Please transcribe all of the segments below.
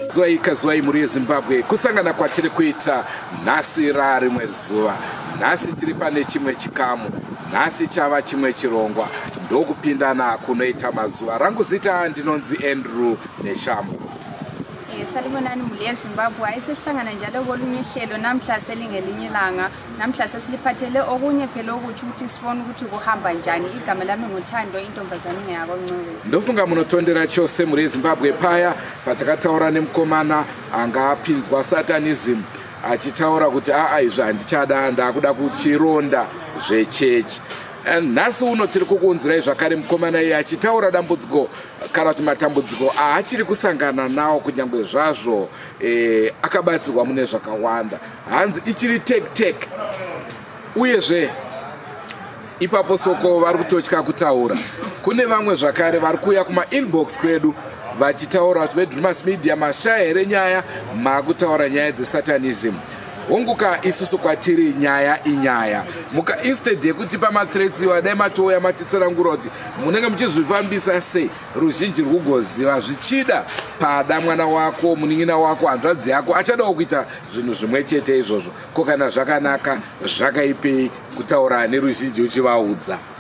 Zwai kazwai mhuri yezimbabwe kusangana kwatiri kuita nhasi raarimwe zuva nhasi tiri pane chimwe chikamu nhasi chava chimwe chirongwa ndokupindana kunoita mazuva rangu zita ndinonzi andrew neshambo Eh, salibonani muli yezimbabwe hayi sesihlangana njalo kolunye uhlelo namhla selingelinye ilanga namhla sesiliphathele okunye phela okutsho ukuthi sibone ukuthi kuhamba njani igama lami nguthando intombazane ingeyako ncube ndofunga munotondera chose muri yezimbabwe paya patakataura nemukomana anga apinzwa satanism achitaura kuti aa izvi handichada ndaakuda kuchironda zvechechi and nhasi uno tiri kukuunzirai zvakare mukomana iye achitaura dambudziko kana kuti matambudziko aachiri kusangana nawo kunyange zvazvo eh, akabatsirwa mune zvakawanda hanzi ichiri tek tek uyezve ipapo soko vari kutotya kutaura kune vamwe zvakare vari kuuya kumainbox kwedu vachitaura kuti vedrumas media mashaya here nyaya maakutaura nyaya dzesatanism hongu ka isusu kwatiri nyaya inyaya muka instead yekutipa mathreats iwa dai matouya matitsanangura kuti munenge muchizvifambisa sei ruzhinji rwugoziva zvichida pada mwana wako munin'ina wako hanzvadzi yako achadawo kuita zvinhu zvimwe chete izvozvo ko kana zvakanaka zvakaipei kutaura neruzhinji uchivaudza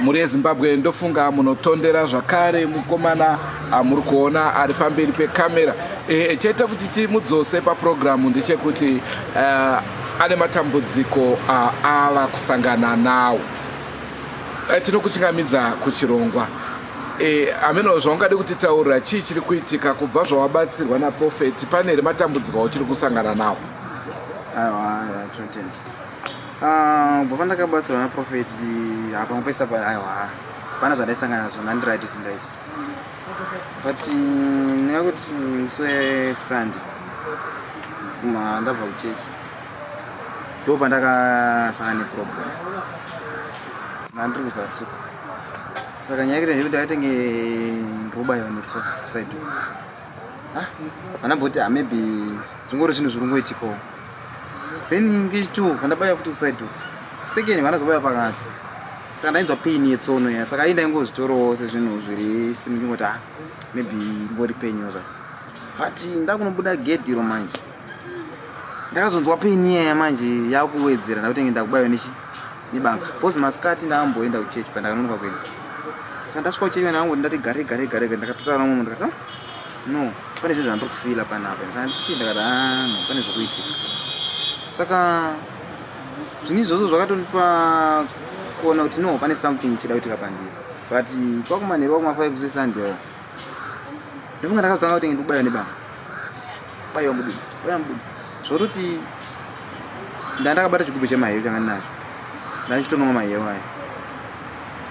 mhuri yezimbabwe ndofunga munotondera zvakare mukomana amuri kuona ari pamberi pekamera e, chete kuti timudzose papurogiramu ndechekuti uh, ane matambudziko aava uh, kusangana nawo uh, eh, tinokuchingamidza kuchirongwa e, ameno zvaungade kutitaurira chii chiri kuitika kubva zvawabatsirwa naprofeti pane here matambudziko auchiri kusangana nawo aiwa chote Ah, bva pandakabatsirwa naprofet hapamwe pese apa aiwa pana zvandaisangana nazvo ndandirit sindaiti but ndinga kuti musi wesande ndabva kuchechi ndo pandakasangana neproblem ndandiri kuzasuka saka nyaya yekuti ndekuti akatenge ndirkuba yonetswa kusaidu ah, vanamboti ah, maybe zvingori zvinhu zviri kungoitikawo then ngechitu kandabaya futi kuside uku second vanazobaya pakati saka ndainzwa pain yetsono ya saka ayi ndaingozvitorawo sezvinhu zviri simi ndingoti ah maybe ngori pain yo zvaka but ndakunobuda gate iro manje ndakazonzwa pain iyaya manje yakuwedzera ndakutenge ndakubayiwa nechi nebanga bcause masikati ndakamboenda kuchechi pandakanonoka kuenda saka ndasvika kuchechi vandakango ndati gare gare gare gare ndakatotaura nomwe ndikati no pane zvinhu zvandiri kufila panapa zvandichii ndakati ah, no pane zvekuitika saka zvinhu izvozvo zvakatondipa kuona kuti no pane something chida kuitika pandiri but kwakumanheru kwakumafive sesunday ndofunga ndakazotanga kuti ndikubaiwa nebanga baiwa mudumbu baiwa mudumbu zvototi ndandakabata chigubhu chemahewu changa ndinacho ndandichitonoma mahewu aya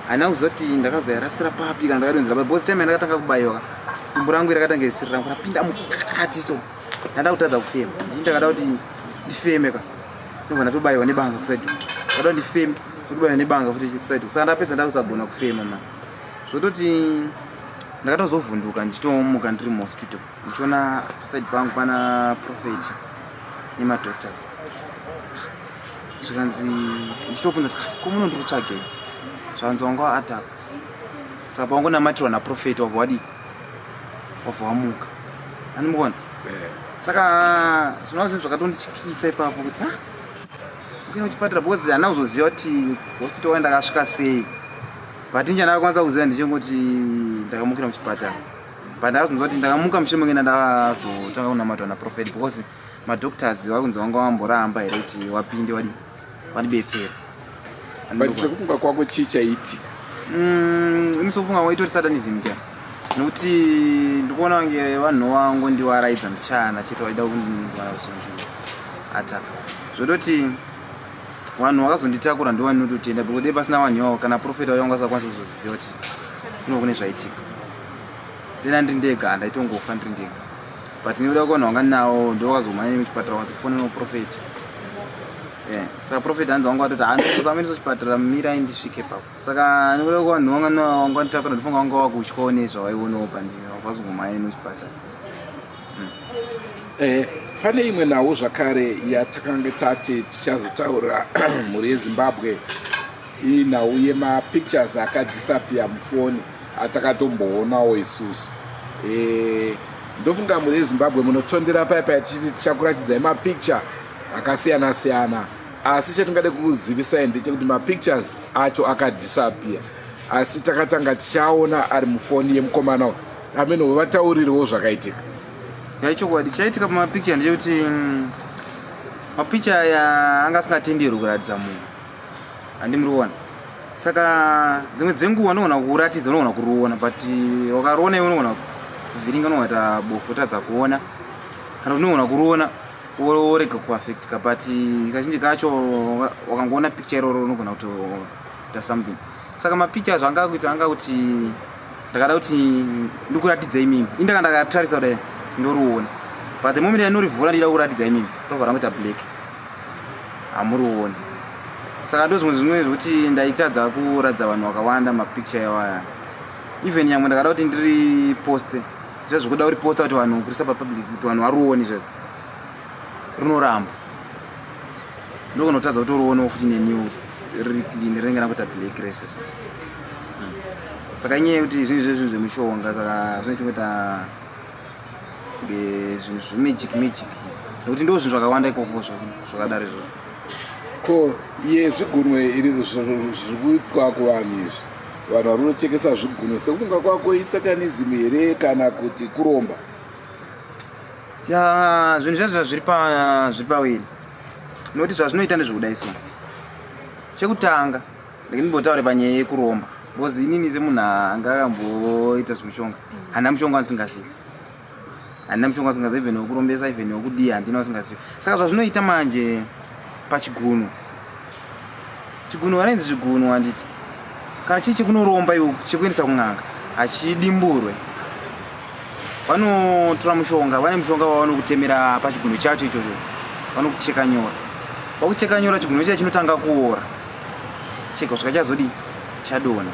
handina kuziva kuti ndakazoyarasira papi kana ndakadonzera papi bcause time yandakatanga kubayoka dumbu rangu irakatanga isiri rangu rapinda mukati so ndanda kutadza kufema ndii ndakada kuti ndifeme ka ndobva ndatobayiwa nebanga kusaidi ndakada kuti ndifeme kutobayiwa nebanga futi kusaidi saka ndapedza ndakusagona kufema ma zvototi ndakatozovhunduka ndichitomuka ndiri muhospital ndichiona paside pangu pana prophet nemadoctors zvikanzi ndichitobvunza kuti ah, komuno ndiri kutsvagei zvakanzi wanga waatapa saka pawangonamatirwa naprofeti wabva wadii wabva wamuka andimukona eh. saka zvinova zvinhu zvakatondityisa ipapo kuti ha ah, ukena kuchipatara because hana kuzoziva kuti hospital waenda akasvika sei but injani akakwanisa kuziva ndichingoti ndakamukira muchipatara but ndakazonzwa kuti ndakamuka mushure mekenda ndazotanga kunamatwa naprofet because madoctors vari kunzi vanga vamboramba here kuti wapinde wadi wadibetsera but sekufunga kwako chii chaiitika mm, ini sekufunga kwako itori satanism cha nokuti ndikuona vange vanhu vangu ndiwaraidza muchana chete waida kundiataka zvototi vanhu vakazonditakura ndiwani nototenda bekuti pasina vanhu ivavo kana profeta vayo vanga vasakwanisa kuzozviziva kuti kuno kune zvaitika ndina ndiri ndega handaitongofa ndiri ndega but ndinoda kuvanhu vanga ndinawo ndovakazomhanya nemi chipatara vakazofona noprofeti eh, saka profeti hanzi vanga vatoti handizosamiriso chipatara mirai ndisvike papo saka ndinoda kuvanhu vanga ndinawo vanga nditakura ndifunga vanga vakutyawo nezvavaionawo pandiri vakazongomhanya nemi chipatara hmm. eh, pane imwe nhau zvakare yatakanga tati tichazotaura mhuri yezimbabwe Iyi nhau yema pictures aka disappear mufoni atakatomboonao isusu eh ndofunga mune Zimbabwe munotondera paya paya tichiti tichakuratidzai ma picture akasiyana siyana asi chatingade kuzivisai ndechekuti ma pictures acho aka disappear asi takatanga tichaona ari mufoni yemukomana uyu amene wevataurirwo zvakaitika yaichokwadi chaitika pamapicha ndechekuti mm, mapicha aya anga asingatenderwi kuratidza munhu handi muri kuona saka dzimwe dzenguva unogona kuratidza unogona kuruona but wakaruona iwe unogona kuvhiringa unogaita bofu otadza kuona kana kuti unogona kuruona worega kuaffectika but kazhinji kacho wakangoona picture iroro unogona kutoita something saka mapicha acho anga kuita anga kuti ndakada kuti ndikuratidza imimi indaka ndakatarisa kudai ndoriona but the moment yanorivhura ndida kuratidza imimi rovha rangoita black hamurioni saka ndozvimwe zvinwe zvekuti ndaitadza kuratidza vanhu vakawanda mapicture yawaya even yamwe ndakada kuti ndiri poste zvazvikuda kuti posta kuti vanhu kurisa papublic kuti vanhu varuoni zvezvo rinoramba ndokunotadza kuti uruonewo futi neniwo riri clean rinenge nakuita black races saka inyaya yekuti zvinhu zvezvinhu zvemushonga saka zvine chikuita zvinhu zvemagic magic nekuti ndoo zvinhu zvakawanda ikoko zvakadaro izvozvo ko iye zvigunwe iri zviri kuitwa kuvanhu izvi vanhu vari kunochekesa zvigunwe sekufunga kwako isatanism here kana kuti kuromba ya zvinhu zvazvo zviri pawiri nekuti zvazvinoita ndezvekuda isu chekutanga ndimbotaure panyaya yekuromba because inini semunhu anga akamboita zvemushonga handina mushonga andisingazivi handina mushonga asingazivi even wekurombesa even wekudii handina asingazivi saka zvazvinoita manje pachigunhu chigunhu vanoinzi zvigunhu handiti kana chii chekunoromba iwo chekuendesa kun'anga hachidimburwe vanotora mushonga vane mushonga wavanokutemera pachigunhu chacho ichocho vanokucheka nyora vakucheka nyora chigunhu chiya chinotanga kuora chega kusvika chazodii chadona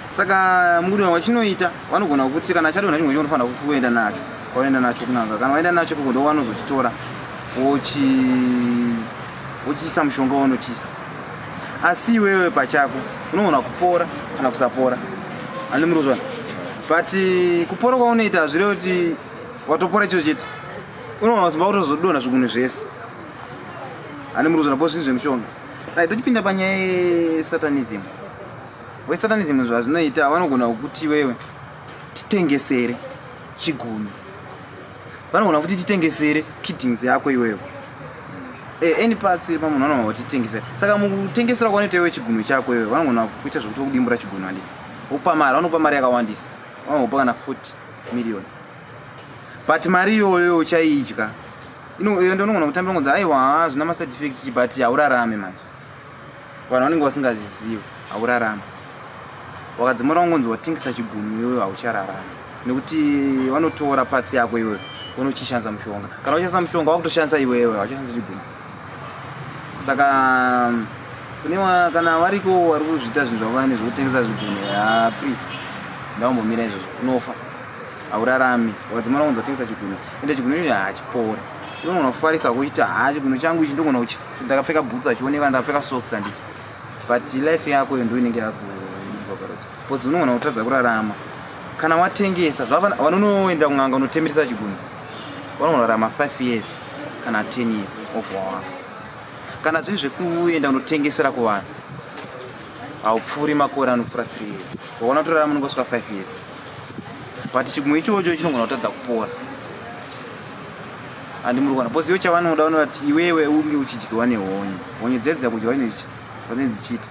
saka mukudiwa wachinoita vanogona kukuti kana chadona chimwe chinofanira kuenda nacho kwaoenda nacho kunanga kana waenda nacho kuko ndo wanozochitora wochiisa mushonga wanochiisa asi iwewe pachako unogona kupora kana kusapora ani muri kuzvana but eh, kupora kwaunoita hazvireve kuti watopora chiro chete unogona kusimba kutozodona zvigunhu zvese ani muri kuzvana po zvinhu zvemushonga Right, tochipinda panyaya yesatanism. We satanism zvazvinoita vanogona kukuti wewe titengesere chigumi. Vanogona kukuti titengesere kittings yako iwewe. Eh, any parts iri pamunhu vanogona kuti titengesere. Saka mukutengesera kwanoita iwe chigumi chako iwewe vanogona kukuita zvekuti vokudimbura chigumi handiti. Vokupa mari, vanokupa mari yakawandisa. Vanokupa kana 40 million. but mari iyoyo uchaidya iyo ndonogona kutambira ngonzi aiwa hazvina maside effect chi but haurarame manje vanhu vanenge vasingazizivi haurarame wakadzimura ungonzi watengesa chigumi iyoyo hauchararame nekuti vanotora patsi yako iyoyo unochishandisa mushonga kana uchishandisa mushonga wakutoshandisa iwewe hauchashandisa chigumi saka kune kana variko vari kuzviita zvinhu zvavane zvekutengesa zvigumi ha ah, please ndaumbomira izvozvo unofa haurarami wadzimana kunzi watengesa chigunwe ende chigunwe icho hachipore ndogona kufarisa kuchiti haa chigunwe changu ichi ndogona kuchiti ndakapfeka bhutsu achioneka ndakapfeka socks handiti but life yako iyo ndo inenge yakuvaparati bcause unogona kutadza kurarama kana watengesa zvavanonoenda kun'anga unotemeresa chigunwe vanogona kurarama five years kana ten years of wawafa kana zvinhu zvekuenda unotengesera kuvanhu haupfuuri makore anopfuura three years wakaona kutorarama unenge usvika five years but chigumwe ichocho chinogona kutadza kupora andi muri kuona bcause ivo chavanoda vanoda kuti iwewe unge uchidyiwa nehonye honye dzedzi dzakudyiwa inezvane dzichiita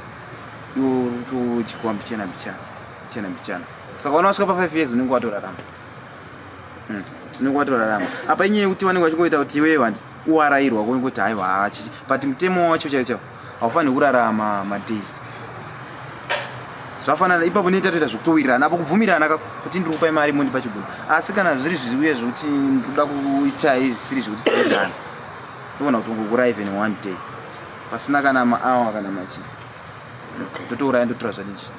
iwe uri kutodyiwa mbichana mbichana mbichana mbichana saka vana vasvika pafive years unenge watorarama hmm, unenge watorarama apa inyaya yekuti vanenge vachingoita kuti iwewe vandi kuarairwa kwekuti haiwa hachichi but mutemo wacho chaicho haufaniri kurarama madays zvafanana ipapo neta toita zvekutowirirana apo kubvumirana kuti ndiri kupa imari mondipa chibhuku asi kana zviri zviuye zvekuti ndikuda kuita zvisiri zvekuti tiwirirana ndovona kuti ungokura even one day pasina kana maawa kana machii ndotouraya ndotora zvake izvi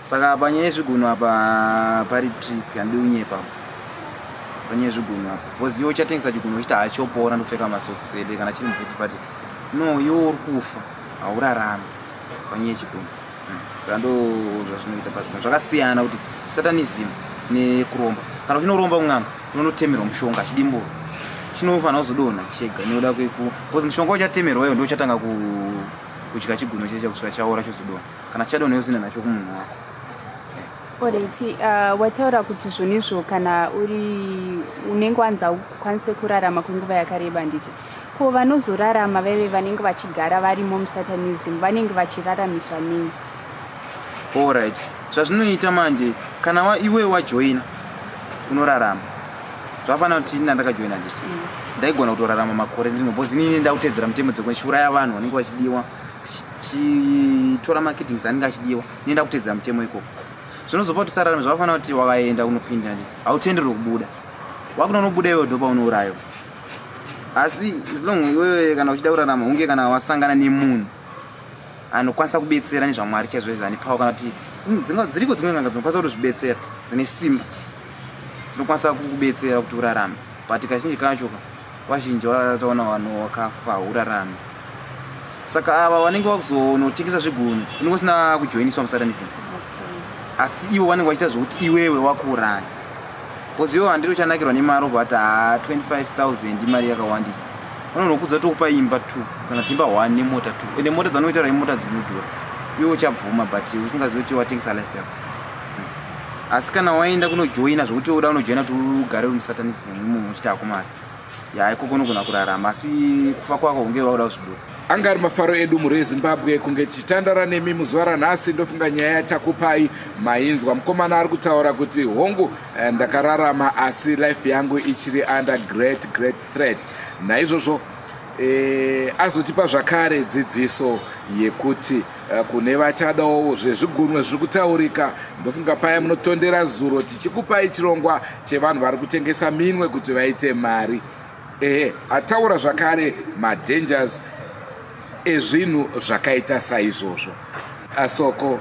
saka panyaya yezvigunhu apa pari trick handidi kunyepa panyaya yezvigunhu apa bcause iwe uchatengesa chigunhu uchiti hachopora ndopfeka masocks ede kana chiri mubhuti but no iwe uri kufa haurarami panyaya yechigunhu hmm. saka ndo zvazvinoita pazvino zvakasiyana kuti satanism nekuromba kana uchinoromba kun'anga unonotemerwa mushonga chidimburo chinofanira kuzodonha chega nekuda kweku bcause mushonga uchatemerwa iwo ndochatanga ku kudya chigunwe chese chakusvika chaora chozodona kana chichadona yosina nacho kumunhu wako orit uh, wataura kuti zvonizvo kana uri unenge wanza ukwanise kurarama kwenguva yakareba nditi ko vanozorarama vaive vanenge vachigara varimo musatanism vanenge vachiraramiswa nei orit zvazvinoita manje kana iwe wajoina unorarama zvakafanira kuti ini nandakajoina nditi mm. ndaigona kutorarama makore ndino bcause inini ndakutedzera mutemo dzekune chiuraya vanhu vanenge vachidiwa tichitora makitings anenge achidiwa ini ndakutedzera mutemo ikoko zvinozopa kuti usararame zvakafanira kuti wakaenda kunopinda nditi hautenderwe kubuda wakunonobuda iwe dopa unourayiwa asi zilong iwewe kana uchida kurarama hunge kana wasangana nemunhu anokwanisa kubetsera nezvamwari chaizvo izvo ane power kana kuti mm, dziriko dzimwe nganga dzinokwanisa kutozvibetsera dzine simba tinokwanisa kukubetsera kuti urarame but kazhinji kacho vazhinji vataona vanhu wakafa urarame saka ava vanenge vakuzonotengesa zvigunhu unenge usina kujoiniswa musatanism asi ivo vanenge vachiita zvokuti iwewe wakuuraya bcause ivo handiri uchanakirwa nemari obva ati ha 25000 imari yakawandisa vanonokudza tokupa imba t kana timba one nemota t ende mota dzanoitaura imota dzinodhura iwe uchabvuma but usingazivi kuti watengesa life yako asi kana waenda kunojoina zvokuti uda unojoina kuti ugare uri musatanisi munhu uchiti akumari ya iko kunogona kurarama asi kufa kwako unge wauda kuzvibuda anga ari mafaro edu mhuri yezimbabwe kunge tichitandara nemi muzuva ranhasi ndofunga nyaya yatakupai mainzwa mukomana ari kutaura kuti hongu eh, ndakararama asi life yangu ichiri under great great threat naizvozvo e, azotipa zvakare dzidziso yekuti Eh, kune vachadawo zvezvigunwe zviri kutaurika ndofunga paya munotondera zuro tichikupai chirongwa chevanhu vari kutengesa minwe kuti vaite mari ehe ataura zvakare madangers ezvinhu zvakaita saizvozvo asoko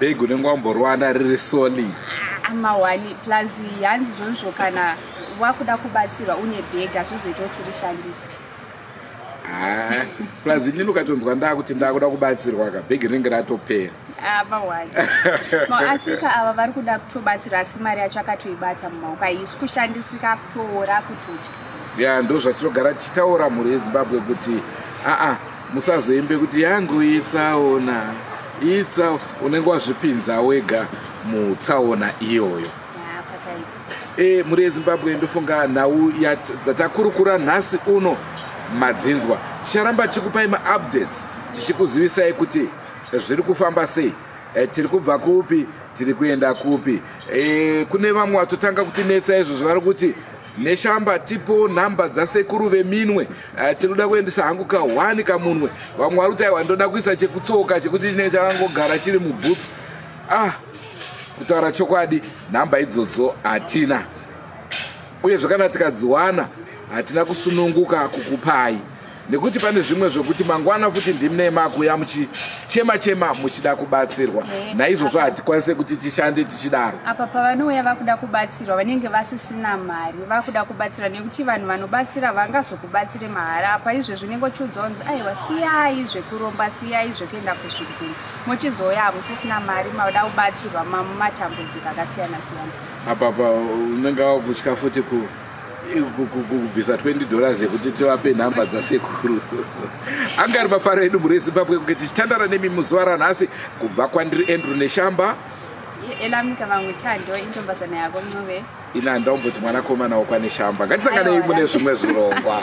bhegi unenge wamboriwana riri solid amawani plus hanzi zvonzvo kana wakuda kubatsirwa une bhegi hazvizoita kuti urishandise ah, plus inini ukatonzwa ndaa kuti ndakuda kubatsirwa ka bhegi rinenge ratopera amawani ah, maasika ava vari kuda kutobatsira asi mari yacho akatoibata mumaoko haisi kushandisika kutoora kutotya ya ndo zvatinogara tichitaura mhuri yezimbabwe kuti aa ah, ah, musazoimbe kuti yangu itsaona itsa unenge wazvipinza wega mutsaona iyoyo e, mhuri yezimbabwe ndofunga nhau dzatakurukura nhasi uno madzinzwa ticharamba tichikupai maupdates tichikuzivisai kuti zviri kufamba sei e, tiri kubva kupi tiri kuenda kupi e, kune vamwe vatotanga kutinetsa izvo zvavari kuti Neshamba tipo number dzasekuru veminwe uh, tinoda kuendesa hangu ka one kamunwe vamwe vari kuti aiwa ndoda kuisa chekutsoka chekuti chinenge chakangogara chiri mubhutsu ah kutaura chokwadi nhamba idzodzo hatina uye zvakana tikadziwana hatina kusununguka kukupai nekuti pane zvimwe zvokuti mangwana futi ndimne makuya muchichema chema muchida kubatsirwa eh, naizvozvo hatikwanise kuti tishande tichidaro apa pavanouya vakuda kubatsirwa vanenge vasisina mari vakuda kubatsirwa nekuti vanhu vanobatsira vangazokubatsire mahara apa izvezvi unenge uchiudzwa kunzi aiwa siyai zvekuromba siyai zvekuenda kuzviguru mochizouya hamusisina mari mauda kubatsirwa mamumatambudziko akasiyana siyana apapa unenge wakutya futi ku kubvisa 20 dollars yekuti tivape nhamba dzasekuru anga ari mafaro edu mhuri yezimbabwe kunge tichitandara nemi muzuva ranhasi kubva kwandiri andrew neshamba elamika vamwe tando intombazana yako ncube ina ndaumboti mwanakomana wokwaneshamba ngatisanganei mune zvimwe zvirongwa